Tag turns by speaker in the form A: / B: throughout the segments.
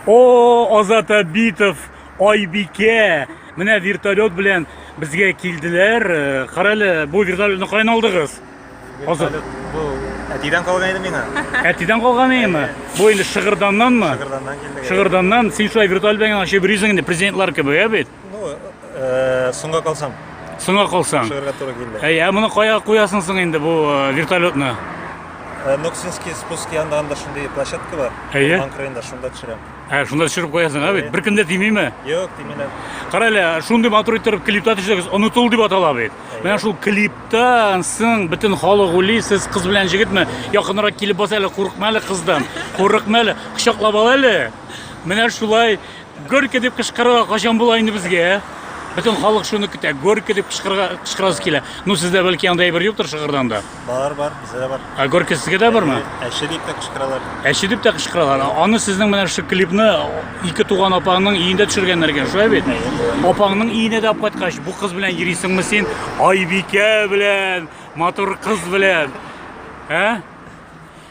A: О, Азат Абитов, Айбике. Менә вертолет белән безгә килделәр. Э, Карале, бу вертолетны каян алдыгыз? Азат. Бу әтидән калган иде миңа. Әтидән калган иеме? Бу инде Шыгырданнанмы? Шыгырданнан килде. Шыгырданнан син шулай вертолет белән ачып йөрисең инде президентлар кебек, ә бит? Ну, э, соңга калсам. Соңга калсаң. Шыгырга туры килде. Әй, ә моны кая куясың соң инде бу э, вертолетны? Э, Ноксинский спуск янында анда шундый площадка бар. Әйе. Урман кырыенда шунда төшерәм. Ә, шунда төшереп куясың, ә бит. Беркем дә тимиме? Юк, тимиләр. Кара әле, шундый матур иттереп клипта төшерегез, онытыл дип атала бит. Менә шул клиптан соң бөтен халык уйлый, сез кыз белән җегетме? Якынрак килеп бас әле, курыкма әле кыздан. Курыкма әле, кочаклап ал әле. Менә шулай Горько дип кычкырырга качан була инде безгә? Бөтен халык шуны көтә. Горько дип кычкырырга кычкырасы килә. Ну сездә бәлки андай бер юктыр шыгырдан да. Бар, бар, бездә дә бар. А горько сезгә дә бармы? Әче дип тә кычкыралар. Әче дип тә кычкыралар. Аны сезнең менә шушы клипны ике туган апаңның иендә төшергәннәр икән, шулай бит? Апаңның иенә дә кайткач, бу кыз белән йөрисеңме син? Айбикә белән, матур кыз белән. Ә?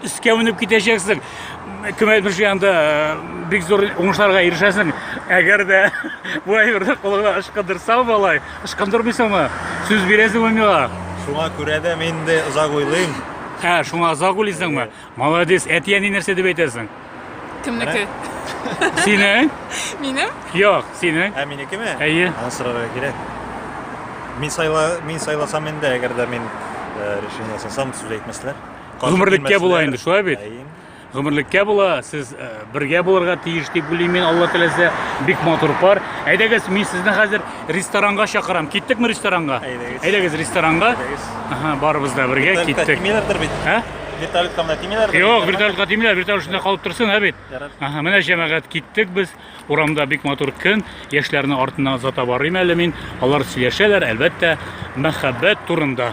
A: Өскә менеп китәчәксең. Кем әйтмешли анда э, бик зур уңышларга ирешәсең. Әгәр дә бу әйберне кулыңа ышкындырсаң, малай, ышкындырмыйсыңмы? Сүз бирәсеңме миңа? Шуңа күрә дә мин инде озак уйлыйм. Ә, шуңа озак уйлыйсыңмы? Молодец, әти-әни нәрсә дип әйтәсең? Кемнеке? Синең? Минем? Юк, синең. Ә минекеме? Әйе. Аны сорарга кирәк. Мин сайла, мин сайласам инде, әгәр дә мин э, решение ясасам, сүз әйтмәсләр. Гомерлеккә була инде, шулай бит? Гомерлеккә була, сез э, бергә булырга тиеш дип уйлыйм мин, Алла теләсә, бик матур пар. Әйдәгез, мин сезне хәзер ресторанга чакырам. Киттекме ресторанга? Әйдәгез. Әйдәгез ресторанга. Әйдәгез. Ага, барыбыз да бергә киттек. Тимиләрдер бит. Ә? Вертолетка менә тимиләрдер. Юк, вертолетка тимиләр, вертолет шунда калып торсын, ә бит. Ага, менә җәмәгать киттек без. Урамда бик матур көн. Яшьләрне артына озата барыйм әле мин. Алар сөйләшәләр, әлбәттә, мәхәббәт турында.